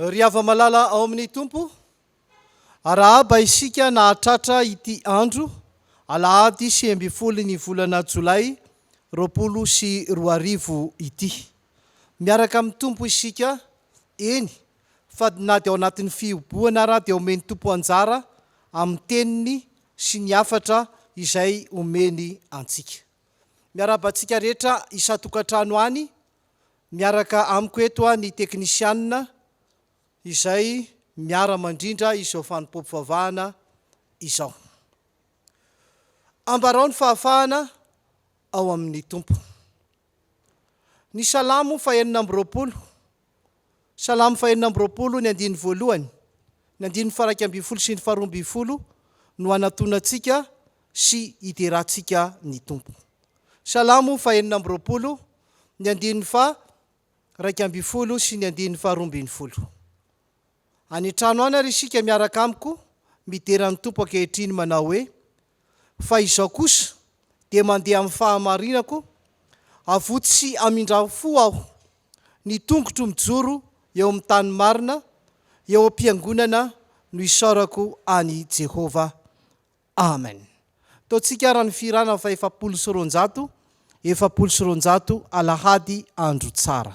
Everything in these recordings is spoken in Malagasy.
Ry hava-malala ao amin'ny Tompo, arahaba isika nahatratra ity andro alahady sivy ambin'ny folo ny volana jolay roapolo sy roa arivo ity. Miaraka amin'ny Tompo isika, eny fa na dia ao anatin'ny fihibohana ara dia omen'ny Tompo anjara amin'ny teniny sy ny hafatra izay omeny antsika. Miarahaba antsika rehetra isan-tokantrano any, miaraka amiko eto ny teknisianina izay miara-mandrindra izao fanompoam-pivavahana izao. Ambarao ny fahafahana ao amin'ny Tompo. Ny Salamo fahenina amby roapolo. Salamo fahenina amby roapolo, ny andininy voalohany, ny andininy faraika ambin'ny folo sy ny faharoa ambin'ny folo no hanatonantsika sy hiderantsika ny Tompo. Salamo fahenina amby roapolo, ny andininy faha raika ambin'ny folo sy ny andininy faharoa ambin'ny folo. Any trano any ary isika miaraka amiko midera ny Tompo ankehitriny manao hoe, Fa izao kosa dia mandeha amin'ny fahamarinako, avotsy sy amindra-fo aho, ny tongotro mijoro eo amin'ny tany marina, eo am-piangonana no isaorako an'i Jehovah. Amen. Ataontsika àry ny fihirana fahefapolo sy roanjato, efapolo sy roanjato, Alahady andro tsara.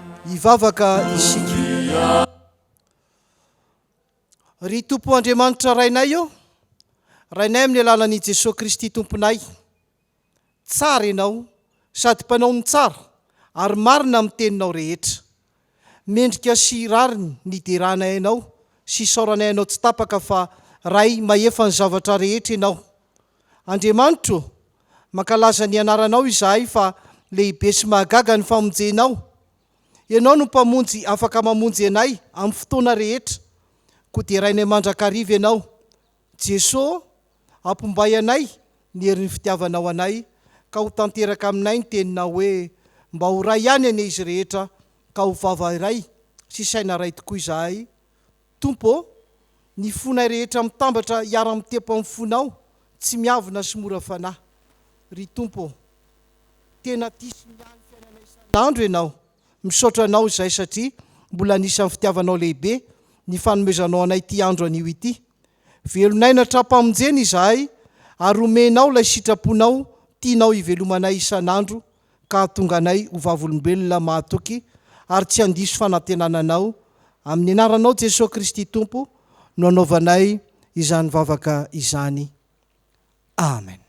hivavaka isika. Ry Tompo Andriamanitra Rainay ô, Rainay amin'ny alalan'i Jesoa Kristy Tomponay, tsara Ianao sady Mpanao ny tsara ary marina amin'ny teninao rehetra. Mendrika sy rariny ny deranay Anao sy isaoranay Anao tsy tapaka fa Ray mahefa ny zavatra rehetra Ianao. Andriamanitro ô, mankalaza ny Anaranao izahay fa lehibe sy mahagaga ny famonjenao. Ianao no Mpamonjy afaka mamonjy anay amin'ny fotoana rehetra, koa derainay mandrakariva Ianao. Jeso ô, ampimbay anay ny herin'ny fitiavanao anay, ka ho tanteraka aminay ny teninao hoe, Mba ho ray ihany anie izy rehetra, ka ho vava iray sy saina iray tokoa izahay. Tompo ô, ny fonay rehetra mitambatra hiara-mitepo amin'ny fonao tsy miavona sy mora fanahy. Ry Tompo ô, tena tia sy miahy ny fiainanay isan'andro Ianao. Misaotra Anao izay satria mbola anisan'ny fitiavanao lehibe ny fanomezanao anay ity andro anio ity. Velonay natram-pamonjena izahay ary omenao ilay sitraponao tianao hivelomanay isan'andro ka hahatonga anay ho vavolombelona mahatoky ary tsy handiso fanantenana Anao. Amin'ny Anaranao Jesoa Kristy Tompo no anaovanay izany vavaka izany. Amen.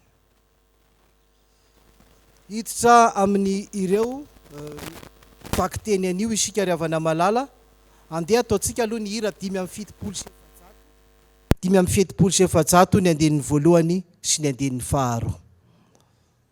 Hiditra amin ireo vakiteny anio isika ry havana malala. Andeha ataontsika aloha ny hira dimy amby fitopolo sy efajato, dimy amby fetopolo sy efajato ny andininy voalohany sy ny andininy faharoa.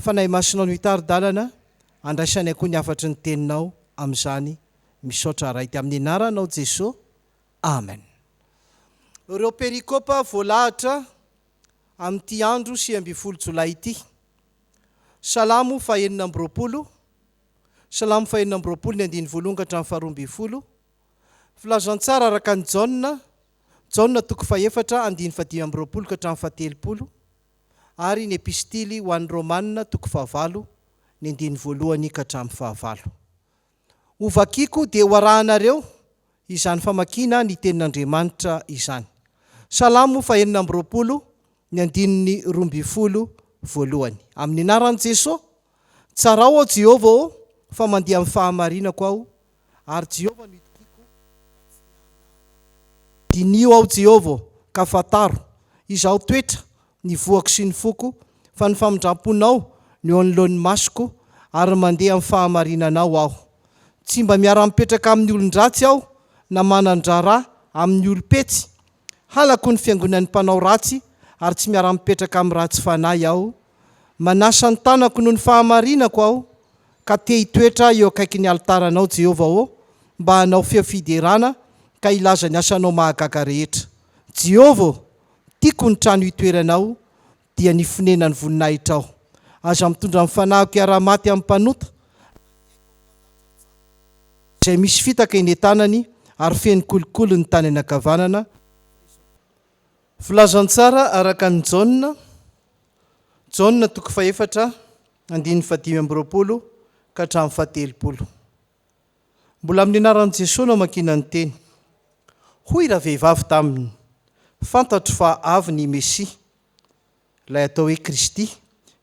Fanahy Masinao no hitari-dalana handraisany akoho ny hafatry ny teninao amin'izany misaotra Ray dia amin'ny anaranao Jeso Amen. Ireo perikopa voalahatra amin'ity andro sivy ambin'ny folo jolay ity. Salamo fahenina amby roapolo Salamo fahenina amby roapolo ny andininy voalohany ka hatramin'ny faharoa ambin'ny folo Filazantsara araka an'i Jaona Jaona toko fahefatra andininy fahadimy amby roapolo ka hatramin'ny fahatelopolo ary ny Epistily ho an'ny Romana toko fahavalo ny andininy voalohany ka hatramin'ny fahavalo. Ho vakiko dia ho arahanareo izany famakiana ny Tenin'Andriamanitra izany. Salamo fahenina amby roapolo ny andininy roa ambin'ny folo voalohany. Amin'ny anaran'i Jesoa, tsarao aho Jehovah ô, fa mandeha amin'ny fahamarinako aho ary Jehovah no itokiako fa tsy hihanahana. Diniho aho Jehovah, ka fantaro, izaho toetra, ny voako sy ny foko, fa ny famindram-ponao no eo anoloan'ny masoko, ary mandeha amin'ny fahamarinanao aho. Tsy mba miara-mipetraka amin'ny olon-dratsy aho, na manan-draharaha amin'ny olom-petsy, Halako ny fiangonan'ny mpanao ratsy ary tsy miara-mipetraka amin'ny ratsy fanahy aho. Manasa ny tanako noho ny fahamarinako aho, ka te hitoetra eo akaikin'ny alitaranao, Jehovah ô, mba hanao feo fiderana ka hilaza ny asanao mahagaga rehetra. Jehovah ô, tiako ny trano itoeranao, dia ny fonenan'ny voninahitrao. Aza mitondra ny fanahiko hiara-maty amin'ny mpanota, ary adiako ny mpanaja ny zanako, izay misy fitaka eny an-tanany ary feno kolikoly ny tany anakavanana, fa izao tokoa. Filazantsara araka an'i Jaona, Jaona toko fahefatra, andininy fahadimy amby roapolo ka hatramin'ny fahatelopolo. Mbola amin'ny anaran'i Jesoa no amakiana ny teny. Hoy ravehivavy taminy, Fantatro fa avy ny Mesia, ilay atao hoe Kristy,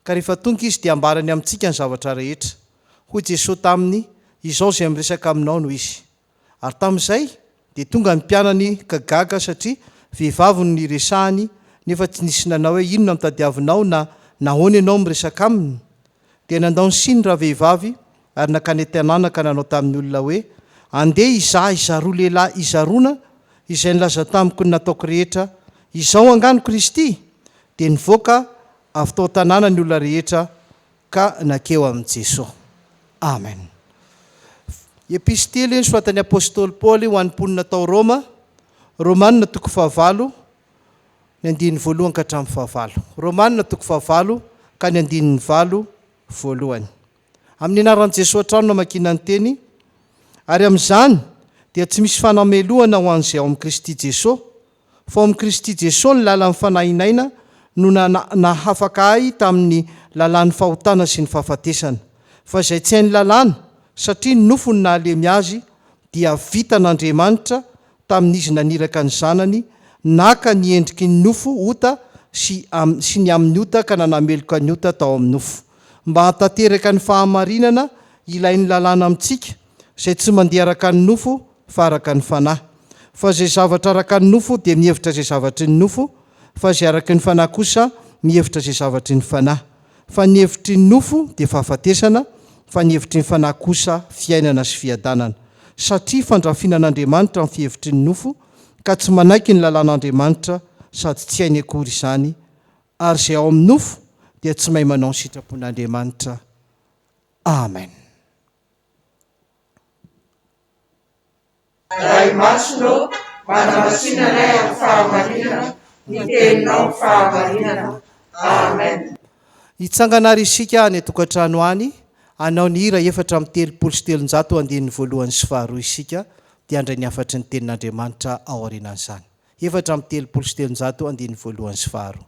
ka rehefa tonga Izy dia hambarany amintsika ny zavatra rehetra. Hoy Jesoa taminy, Izao izay miresaka aminao no Izy. Ary tamin'izay, Dia tonga ny mpianany ka gaga satria vehivavy no niresahany nefa tsy nisy nanao hoe inona no tadiavinao na nahoana ianao miresaka aminy? Dia nandao ny siny ravehivavy ary nankany an-tanàna ka nanao tamin'ny olona hoe, Andeha izahay zaroa lehilahy hizarona izay nilaza tamiko ny nataoko rehetra, Izao angaha no Kristy? Dia nivoaka avy tao an-tanàna ny olona rehetra Ka nankeo amin'i Jesoa. Amen. Epistily nosoratan'ny Apostoly Paoly ho an'ny mponina tao Roma, Romana toko fahavalo, ny andininy voalohany ka hatramin'ny fahavalo. Romana toko fahavalo ka ny andininy valo voalohany. Amin'ny anaran'i Jesoa hatrany no amakiana ny teny, ary amin'izany dia tsy misy fanamelohana ho an'izay ao amin'i Kristy Jesoa, fa ao amin'i Kristy Jesoa ny lalan'ny Fanahy Naina no nahafaka ahy tamin'ny lalan'ny fahotana sy ny fahafatesana, fa izay tsy hain'ny lalàna, satria ny nofo no nahalemy azy, dia vitan'Andriamanitra tamin'izy naniraka ny Zanany, naka ny endriky ny nofo, ota, sy sy ny amin'ny ota ka nanameloka ny ota tao amin'ny nofo, mba hantanteraka ny fahamarinana ilain'ny lalàna amintsika, izay tsy mandeha araka ny nofo, fa araka ny fanahy, fa izay zavatra araka ny nofo dia mihevitra izay zavatry ny nofo, fa izay araky ny fanahy kosa mihevitra izay zavatry ny fanahy. Fa ny hevitry ny nofo dia fahafatesana, fa ny hevitry ny fanahy kosa fiainana sy fiadanana. Satria fandrafinan'Andriamanitra ny fihevitry ny nofo, ka tsy manaiky ny lalàn'Andriamanitra, sady tsy hainy akory izany, ary izay ao amin'ny nofo dia tsy mahay manao ny sitrapon'Andriamanitra. Amen. Ray Masina ô, manamasinanay amin'ny fahamarinana ny Teninao ny fahamarinana. Amen. Hitsangana àry isika any an-tokantrano any, hanao ny hira efatra amby telopolo sy telonjato andininy voalohany sy faharoa isika, dia handray ny hafatry ny Tenin'Andriamanitra ao aorianan'izany. Efatra amby telopolo sy telonjato andininy voalohany sy faharoa.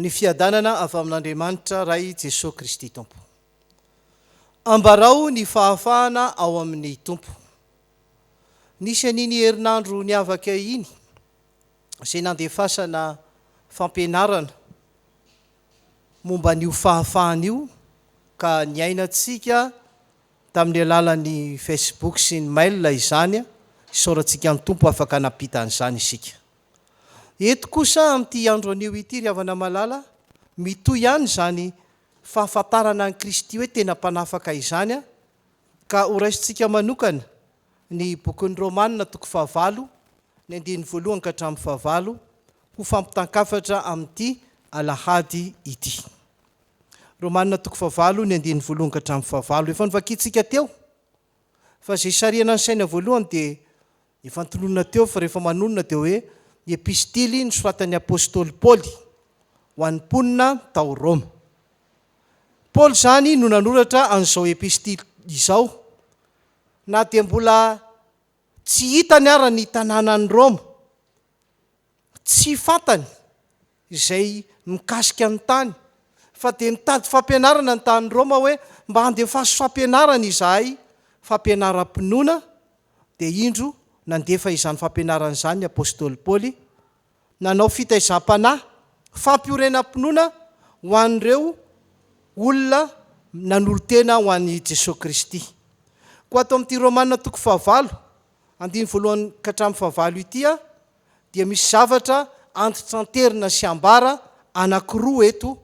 ny fiadanana avy amin'Andriamanitra Ray Jesoa Kristy Tompo. Ambarao ny fahafahana ao amin'ny Tompo. Nisy an'iny herinandro niavaka iny izay nandefasana fampianarana momba an'io fahafahana io ka niainantsika tamin'ny alalan'ny Facebook sy ny mail izany, isaorantsika ny Tompo afaka nampita an'izany isika. Eto kosa amin'ity andro anio ity ry havana malala, mitohy ihany izany fahafantarana an'i Kristy hoe tena Mpanafaka izany ka horaisintsika manokana ny bokin'ny Romana toko fahavalo, ny andininy voalohany ka hatramin'ny fahavalo ho fampitan-kafatra amin'ity alahady ity. Romana toko fahavalo, ny andininy voalohany ka hatramin'ny fahavalo. Efa novakintsika teo fa izay sarihana ny saina voalohany dia Efa notononina teo fa rehefa manonona dia hoe ny epistily nosoratan'ny apostoly Paoly ho an'ny mponina tao Roma. Paoly izany no nanoratra an'izao epistily izao, na dia mbola tsy hitany ara ny tanànan'i Roma, tsy fantany, izay mikasika ny tany fa dia nitady fampianarana ny tany Roma hoe mba handefaso fampianarana izahay fampianaram-pinoana dia indro nandefa izany fampianarana izany ny apostoly Paoly nanao fitaizam-panahy fampiorenam-pinoana ho an'ireo olona nanolo-tena ho an'i Jesoa Kristy koa ato amin'ity Romana toko fahavalo andiny voalohany ka hatramin'ny fahavalo ity dia misy zavatra antitranterina sy ambara anankiroa eto,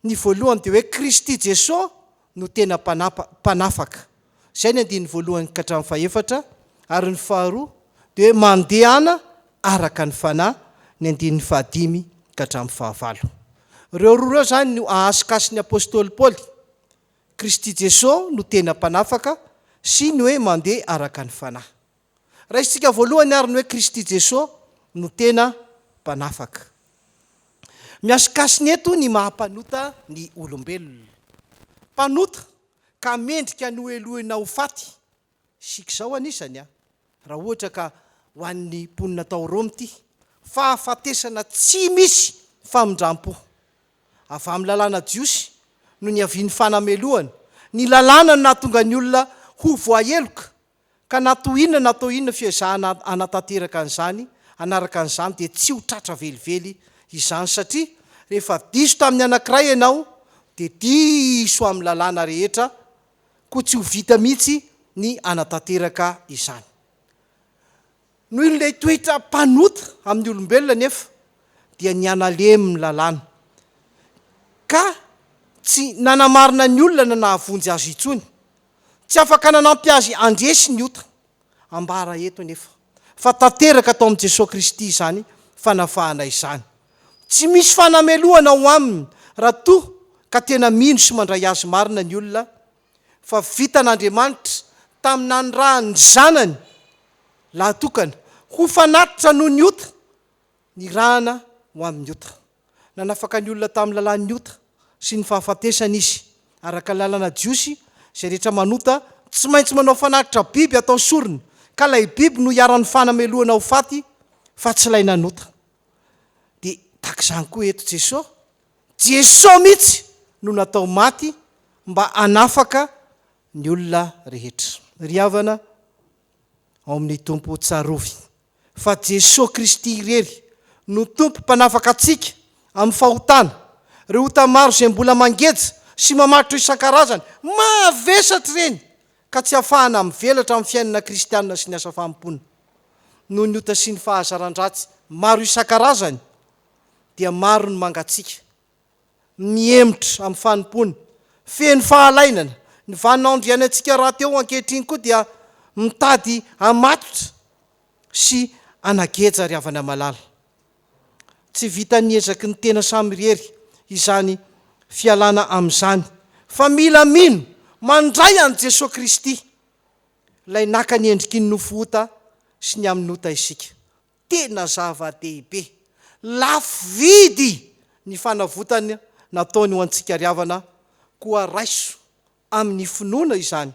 ny voalohany dia hoe Kristy Jesoa no tena mpanapa, mpanafaka, izay ny andininy voalohany ka hatramin'ny fahefatra, ary ny faharoa dia hoe mandehana araka ny Fanahy, ny andininy fahadimy ka hatramin'ny fahavalo. Ireo roa ireo izany no ahasikasin'ny apostoly Paoly, Kristy Jesoa no tena mpanafaka sy ny hoe mandeha araka ny Fanahy. Raisintsika voalohany ary ny hoe Kristy Jesoa no tena Mpanafaka. Mihasikasina eto ny maha mpanota ny olombelona. Mpanota ka mendrika nohelohina ho faty. Isika izao anisany an! Raha ohatra ka ho an'ny mponina tao Roma ity, fahafatesana tsy misy famindram-po. Avy amin'ny lalàna jiosy no niavian'ny fanamelohana, ny lalàna no nahatonga ny olona ho voaheloka Ka na toa inona na toa inona fiezahana hanatanteraka an'izany, hanaraka an'izany dia tsy ho tratra velively izany satria rehefa diso tamin'ny anankiray ianao dia diso amin'ny lalàna rehetra koa tsy ho vita mihitsy ny hanatanteraka izany. Noho ilay toetra mpanota amin'ny olombelona anefa dia nihanalemy ny lalàna ka tsy nanamarina ny olona na nahavonjy azy intsony. Tsy afaka nanampy azy handresy ny ota. Ambara eto anefa fa tanteraka tao amin'i Jesoa Kristy izany fanafahana izany. Tsy misy fanamelohana ao Aminy raha toa ka tena mino sy mandray Azy marina ny olona, fa vitan'Andriamanitra tamin'ny nanirahany ny Zanany lahatokana ho fanatitra noho ny ota, nirahana ho amin'ny ota. Nanafaka ny olona tamin'ny lalàn'ny ota sy ny fahafatesana izy. Araka ny lalàna jiosy, izay rehetra manota tsy maintsy manao fanatitra biby atao sorona, ka ilay biby no iharan'ny fanamelohana ho faty fa tsy ilay nanota. Dia tahaka izany koa eto Jesosy, Jesosy mihitsy no natao maty mba hanafaka ny olona rehetra. Ry havana, ao amin'ny Tompo tsarovy fa Jesoa Kristy irery no Tompo mpanafaka antsika amin'ny fahotana, ireo ota maro izay mbola mangeja sy mamatotra isan-karazany mavesatra ireny ka tsy afahana mivelatra amin'ny fiainana kristianina sy ny asa fanompoana noho ny ota sy ny fahazaran-dratsy maro isan-karazany dia maro ny mangatsiaka mihemotra amin'ny fanompoany, feno fahalainana. Ny vaninandro iainantsika rahateo ankehitriny koa dia mitady hamatotra sy hanageja ry havana malala. Tsy vitan'ny ezaky ny tena samirery izany fialana amin'izany, fa mila mino mandray an'i Jesoa Kristy, Ilay naka ny endriky ny nofo ota sy ny amin'ny ota isika. tena zava-dehibe. Lafo vidy ny fanavotana nataony ho antsika ry havana, koa raiso amin'ny finoana izany.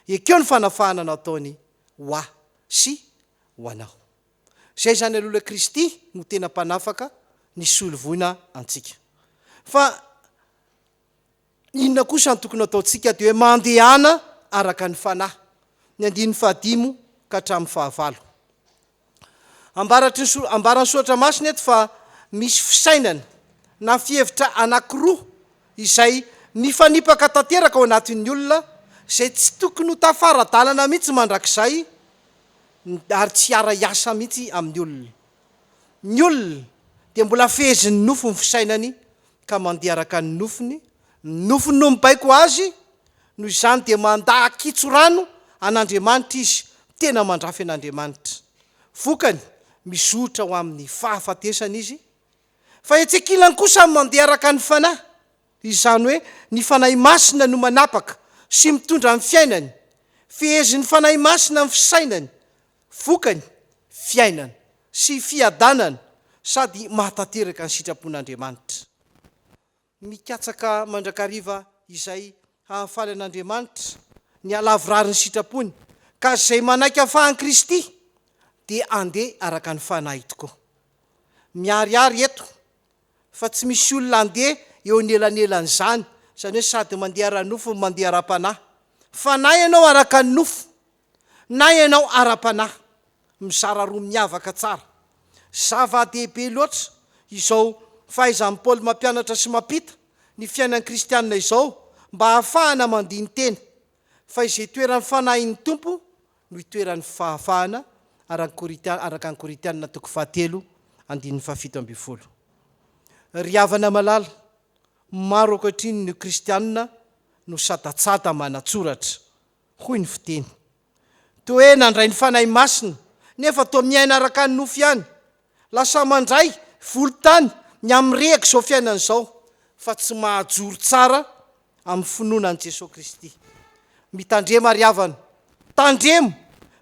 Ekeo ny fanafahana nataony ho ahy sy ho anao. Izay izany alola Kristy no tena mpanafaka, ny solovoina antsika. Fa Inona kosa no tokony hataontsika dia hoe mandehana araka ny Fanahy, ny andininy fahadimy ka hatramin'ny fahavalo. Ambaratry ny so, ambaran'ny Soratra Masina eto fa misy fisainana na fihevitra anankiroa izay mifanipaka tanteraka ao anatin'ny olona, izay tsy tokony ho tafara-dalana mihitsy mandrakizay ary tsy hiara-hiasa mihitsy amin'ny olona. Ny olona dia mbola fehezin'ny nofo ny fisainany ka mandeha araka ny nofony, ny nofony no mibaiko azy, noho izany dia mandà kitso-rano an'Andriamanitra izy, tena mandrafy an'Andriamanitra. Vokany, mizotra ho amin'ny fahafatesana izy. Fa etsy ankilany kosa ny mandeha araka ny Fanahy, izany hoe ny Fanahy Masina no manapaka sy mitondra ny fiainany, fehezin'ny Fanahy Masina ny fisainany, Vokany, fiainana sy fiadanana sady mahatanteraka ny sitrapon'Andriamanitra. Mikatsaka mandrakariva izay hahafaly an'Andriamanitra ny halavorary ny sitrapony, ka izay manaiky hafahan'i Kristy dia andeha araka ny fanahy tokoa. Miharihary eto fa tsy misy olona andeha eo anelanelan'izany, izany hoe sady mandeha ara-nofo no mandeha ara-panahy. Fanahy ianao araka ny nofo. na ianao ara-panahy, mizara roa miavaka tsara. Zava-dehibe loatra izao fahaizan'i Paoly mampianatra sy mampita ny fiainan'ny kristiana izao mba hahafahana mandini-tena fa izay itoeran'ny Fanahin'ny Tompo no itoeran'ny fahafahana, araka Korintiana, araka ny Korintiana toko fahatelo andininy fahafito ambin'ny folo. Ry havana malala, maro ankehitriny ny kristiana no sadatsada manatsoratra. hoy ny fiteny. Toa hoe nandray ny Fanahy Masina nefa toa miaina araka ny nofo ihany, lasa mandray volon-tany ny amin'ny rehak'izao fiainana izao fa tsy mahajoro tsara amin'ny finoana an'i Jesoa Kristy. Mitandrema ry havana, tandremo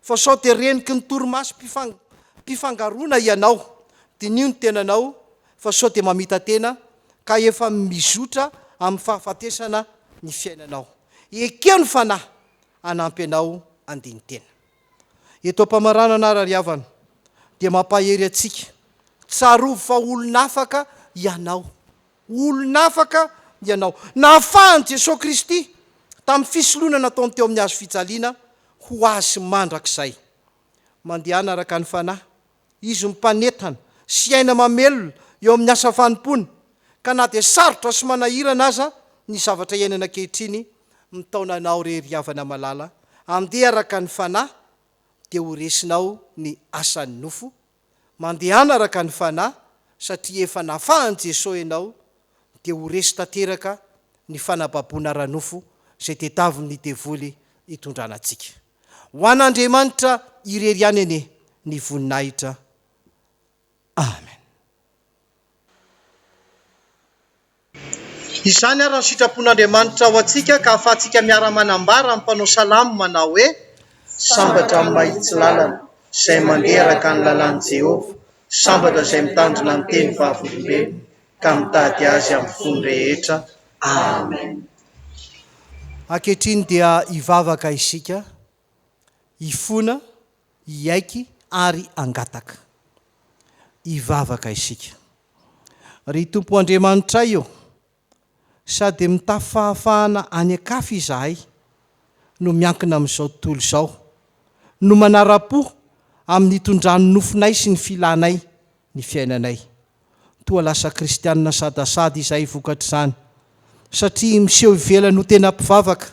fa sao dia reniky ny torimasom-pifangaroana ianao, diniho ny tenanao fa sao dia mamita-tena ka efa mizotra amin'ny fahafatesana ny fiainanao. Ekeo ny Fanahy hanampy anao handini-tena. Eto am-pamaranana ary ry havana dia mampahery antsika, tsarovy fa olona afaka ianao, olona afaka ianao. Nahafahan'i Jesoa Kristy tamin'ny fisoloana nataony teo amin'ny hazo fijaliana ho azy mandrakizay. Mandehana araka ny Fanahy Izy no mpanentana sy aina mamelona eo amin'ny asa fanompoana, ka na dia sarotra sy manahirana aza ny zavatra iainana ankehitriny, mitaona anao re ry havana malala, andeha araka ny Fanahy dia ho resinao ny asan'ny nofo, mandehana araka ny Fanahy satria efa nafahan'i Jesoa ianao dia ho resy tanteraka ny fanababoana ara-nofo izay tediavin'ny devoly hitondrana antsika. Ho an'Andriamanitra irery ihany anie ny voninahitra. Amen. Izany ary ny sitrapon'Andriamanitra ho antsika ka ahafahantsika miara-manambara amin'ny mpanao salamo manao hoe, Sambatra amin'ny mahitsy lalana, izay mandeha araka ny lalàn'i Jehovah, sambatra izay mitandrina ny teny vavolombelony. ka mitady Azy amin'ny fony rehetra. Amen. Ankehitriny dia hivavaka isika, hifona, hiaiky ary hangataka. Hivavaka isika. Ry Tompo Andriamanitray ô, sady mitafy fahafahana any an-kafy izahay no miankina amin'izao tontolo izao, no manara-po amin'ny hitondran'ny nofinay sy ny filanay, ny fiainanay. Toa lasa kristiana sadasada izahay vokatr'izany, satria miseho ivelany ho tena mpivavaka,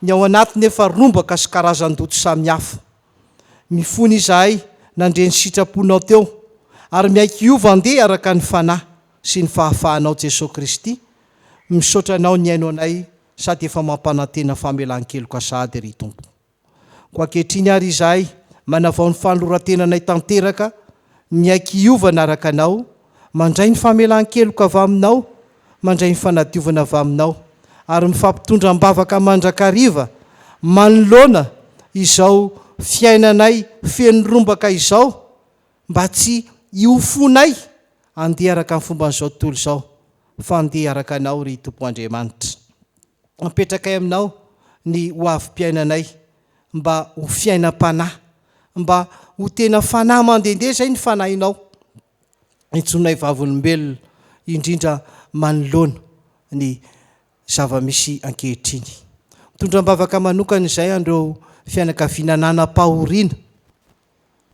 ny ao anaty nefa rombaka sy karazan-doto samihafa. Mifona izahay nandre ny sitraponao teo, ary miaiky hiova andeha araka ny Fanahy sy ny fahafahanao Jesoa Kristy, misaotra Anao nihaino anay sady efa mampanantena famelan-keloka sahady ry Tompo. Koa ankehitriny àry izahay manavao ny fanoloran-tenanay tanteraka, miaiky hiovana araka Anao, mandray ny famelan-keloka avy Aminao, mandray ny fanadiovana avy Aminao, ary mifampitondra am-bavaka mandrakariva manoloana izao fiainanay feno rombaka izao, mba tsy hiofonay handeha araka ny fomban'izao tontolo izao, fa handeha araka Anao, ry Tompo Andriamanitra. Apetrakay Aminao ny hoavim-piainanay mba ho fiainam-panahy, mba ho tena fanahy mandehandeha izay ny Fanahinao intsonay vavolombelona, indrindra manoloana ny zava-misy ankehitriny. Mitondra am-bavaka manokana izay an'ireo fianakaviana nanam-pahoriana,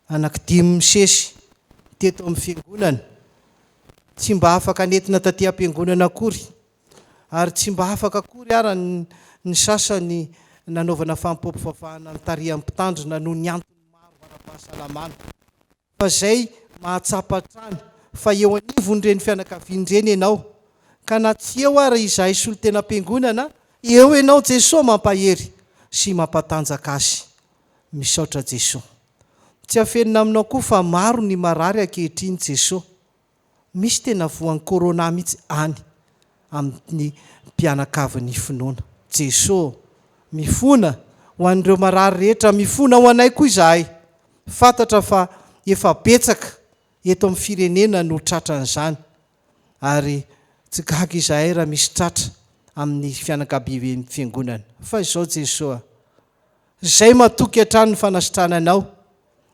anaky dimy misesy teto amin'ny Fiangonana, tsy mba afaka nentina taty am-piangonana akory, ary tsy mba afaka akory ara ny sasany nanaovana famopoam-pivavahana notarihan'ny mpitandrina noho ny antony maro ara-pahasalamana. Fa izay mahatsapa hatrany fa eo anivon'ireny fianakaviana ireny ianao, ka na tsy eo ara izahay solontenam-piangonana, eo ianao Jesoa mampahery sy mampatanjaka azy. Misaotra Jesoa. Tsy afenina aminao koa fa maro ny marary ankehitriny Jesoa. misy tena voan'ny corona mihitsy any amin'ny mpianakavin'ny finoana. Jeso ô! Mifona ho an'ireo marary rehetra, mifona ho anay koa izahay. Fantatra fa efa betsaka eto amin'ny firenena no tratran'izany ary tsy gaga izahay raha misy tratra amin'ny fianakabiaben'ny fiangonana. Fa izao Jeso a! Izay matoky hatrany ny fanasitrananao.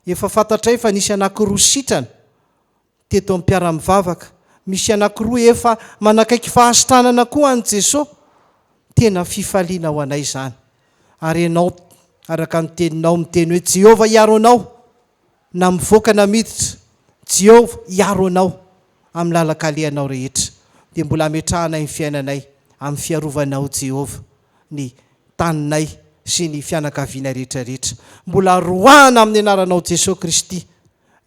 Efa fantatray fa nisy anankiroa sitrana Teto amin'ny mpiara-mivavaka, misy anankiroa efa manakaiky fahasitranana koa an'i Jesoa. Tena fifaliana ho anay izany. Ary ianao, araka ny teninao, miteny hoe, Jehovah hiaro anao, na mivoaka na miditra, Jehovah hiaro anao amin'ny lalan-kalehanao rehetra. Dia mbola hametrahanay ny fiainanay amin'ny fiarovanao, Jehovah, ny taninay sy ny fianakavianay rehetra rehetra. Mbola roahana amin'ny anaranao Jesoa Kristy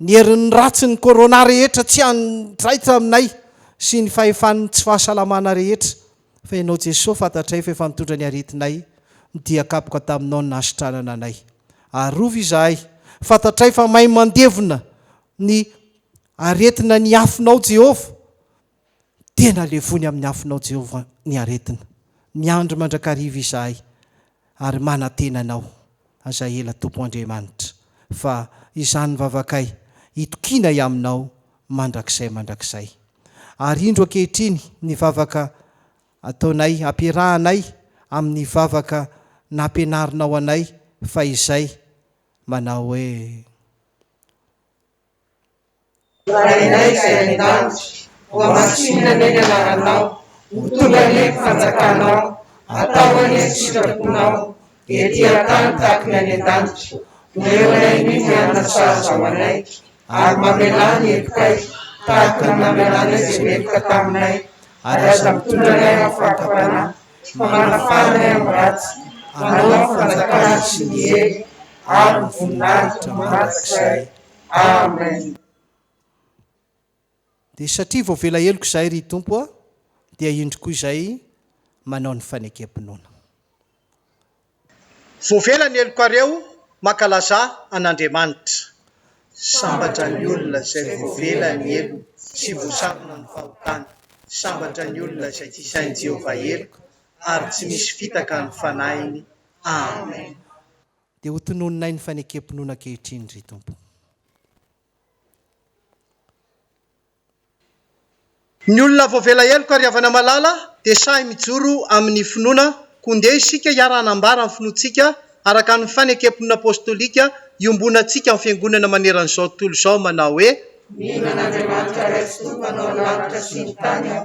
Ny herin'ny ratsin'ny Corona rehetra tsy hanjaitra aminay sy ny fahefan'ny tsy fahasalamana rehetra fa Ianao Jesoa fantatray fa efa nitondra ny aretinay ny dia kapoka taminao ny nahasitranana anay. Arovy izahay, fantatray fa mahay mandevona ny aretina ny Afonao Jehovah, Tena levony amin'ny afonao Jehovah ny aretina. Miandry mandrakariva izahay ary manantena anao aza ela Tompo Andriamanitra fa izany vavakay itokianay aminao mandrakizay mandrakizay. Ary indro ankehitriny ny vavaka ataonay ampiarahanay amin'ny vavaka nampianarinao anay fahizay manao hoe. Rainay izay any an-danitra, hohamasinina anie ny anaranao, ho tonga anie ny fanjakanao, hatao anie ny sitraponao ety an-tany tahaka ny any an-danitra, omeo anay ny mihana sahaza ho anay, ary mamelà ny hepokay tahaka ny namelà anay izay meloka taminay, ary aza mitondra anay amin'ny fahatapanahy, fa manafà anay amin'ny ratsy, anao ny fanjakana sy ny hery ary ny voninahitra mandrakizay. Amen. Dia satria voavela heloka izahay ry Tompo a, dia indro koa izay manao ny fanekem-pinoana. Voavela ny helokareo mankalazà an'Andriamanitra. Sambatra ny olona izay voavela ny heloka sy voasakana ny fahotany, sambatra ny olona izay tsy sain'i Jehovah heloka ary tsy misy fitaka ny fanahiny. Amen. Dia ho tononinay ny fanekem-pinoana ankehitriny, ry Tompo. Ny olona voavela heloka ry havana malala dia sahy mijoro amin'ny finoana koa ndeha isika hiara-hanambara ny finoantsika araka ny fanekem-pinoana apostolika iombonantsika amin'ny fiangonana maneran'izao tontolo izao manao hoe, Mihinan'Andriamanitra Ray sy Tompo anao ny lanitra sy ny tany aho.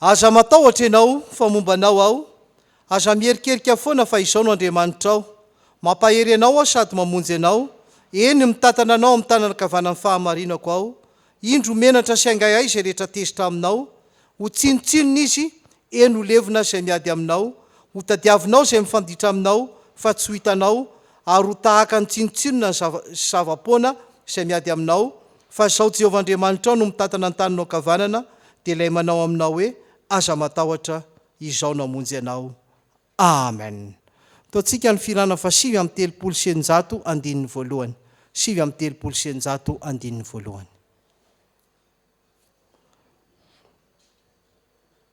Aza matahotra ianao, fa momba anao aho, aza miherikerika foana fa izaho no Andriamanitrao. Mampahery anao aho sady mamonjy anao, eny, mitantana anao amin'ny tanana ankavanan'ny fahamarinako aho. Indro menatra sy aingaihay izay rehetra tezitra aminao, ho tsinontsinona izy, eny, ho levona izay miady aminao. Hotadiavinao izay mifanditra aminao fa tsy ho hitanao, ary ho tahaka ny tsinontsinona ny zava-poana izay miady aminao, Fa izao Jehovah Andriamanitrao no mitantana ny taninao ankavanana, dia ilay manao aminao hoe, Aza matahotra, Izaho no hamonjy anao. Amen. Ataontsika ny firana faha sivy amby telopolo sy eninjato andininy voalohany. Sivy amby telopolo sy eninjato andininy voalohany.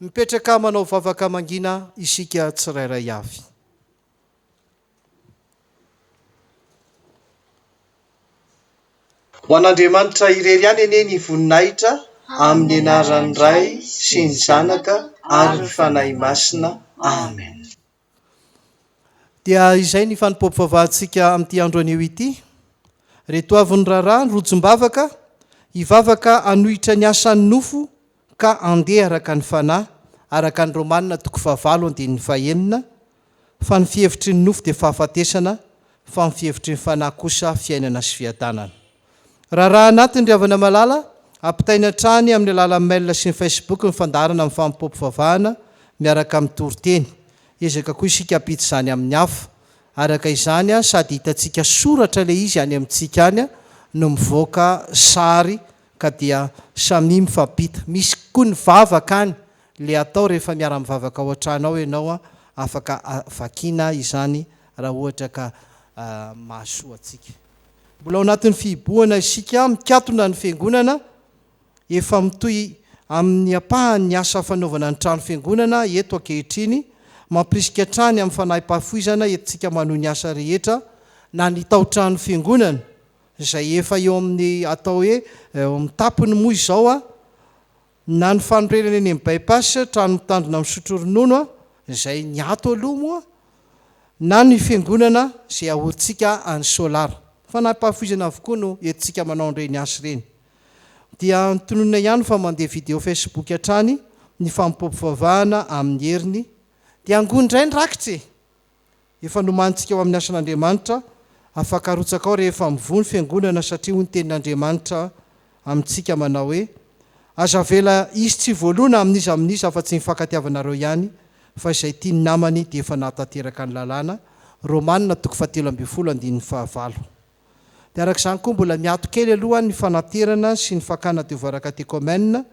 Mipetraka manao vavaka mangina isika tsirairay avy. Ho an'Andriamanitra irery ihany anie ny voninahitra amin'ny anaran'ny Ray sy ny Zanaka ary ny Fanahy Masina. Amen. Dia izay ny fanompoam-pivavahantsika amin'ity andro anio ity. Reto avy ny raharaha, ny rojom-bavaka, hivavaka hanohitra ny asan'ny nofo ka handeha araka ny fanahy, araka ny Romana toko fahavalo andininy fahenina, fa ny fihevitry ny nofo dia fahafatesana, fa ny fihevitry ny fanahy kosa fiainana sy fiadanana. Raharaha anatiny ry havana malala, ampitaina hatrany amin'ny alalan'ny mail sy ny Facebook ny fandaharana amin'ny fanompoa mpivavahana miaraka amin'ny toriteny. Ezaka koa isika hampita izany amin'ny hafa. Araka izany, sady hitantsika soratra ilay izy any amintsika any no mivoaka sary ka dia samia mifampita. Misy koa ny vavaka any, ilay atao rehefa miara-mivavaka ao an-trano ao ianao, afaka vakiana izany raha ohatra ka mahasoa antsika. Mbola ao anatin'ny fihibohana isika mikatona ny Fiangonana, efa mitohy amin'ny ampahany ny asa fanaovana ny trano Fiangonana eto ankehitriny, mampirisika hatrany amin'ny fanahipafoizana entintsika manohy ny asa rehetra, na ny tao-trano Fiangonana izay efa eo amin'ny atao hoe eo amin'ny tapony moa izao, Na ny fanorenana eny amin'ny By-pass trano mitandrina misotro ronono izay ny ato aloha moa na ny fiangonana izay ahorintsika any Solar. Fanampahafoizana avokoa no entintsika manao an'ireny asa ireny. Dia tononina ihany fa mandeha video Facebook hatrany ny famopoampivavahana amin'ny heriny dia angoy indray ny rakitra e! Efa nomanintsika ao amin'ny asan'Andriamanitra, afaka arotsaka ao rehefa mivoha ny Fiangonana satria hoy ny Tenin'Andriamanitra amintsika manao hoe, Aza avela hisy tsy voaloana amin'iza amin'iza afa-tsy ny hifankatiavanareo ihany, fa izay tia ny namany dia efa nahatanteraka ny lalàna. Romana toko fahatelo ambin'ny folo andininy fahavalo. Dia araka izany koa mbola miato kely aloha ny fanaterana sy ny fakana devoara katekomena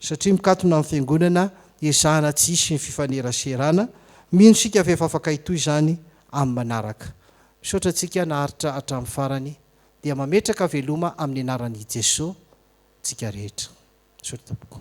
satria mikatona amin'ny fiangonana ezahana tsy hisy ny fifaneraserana, mino isika fa efa afaka hitohy izany amin'ny manaraka. Misaotra antsika naharitra hatramin'ny farany dia mametraka veloma amin'ny anaran'i Jeso tsika rehetra. Misaotra tompoko.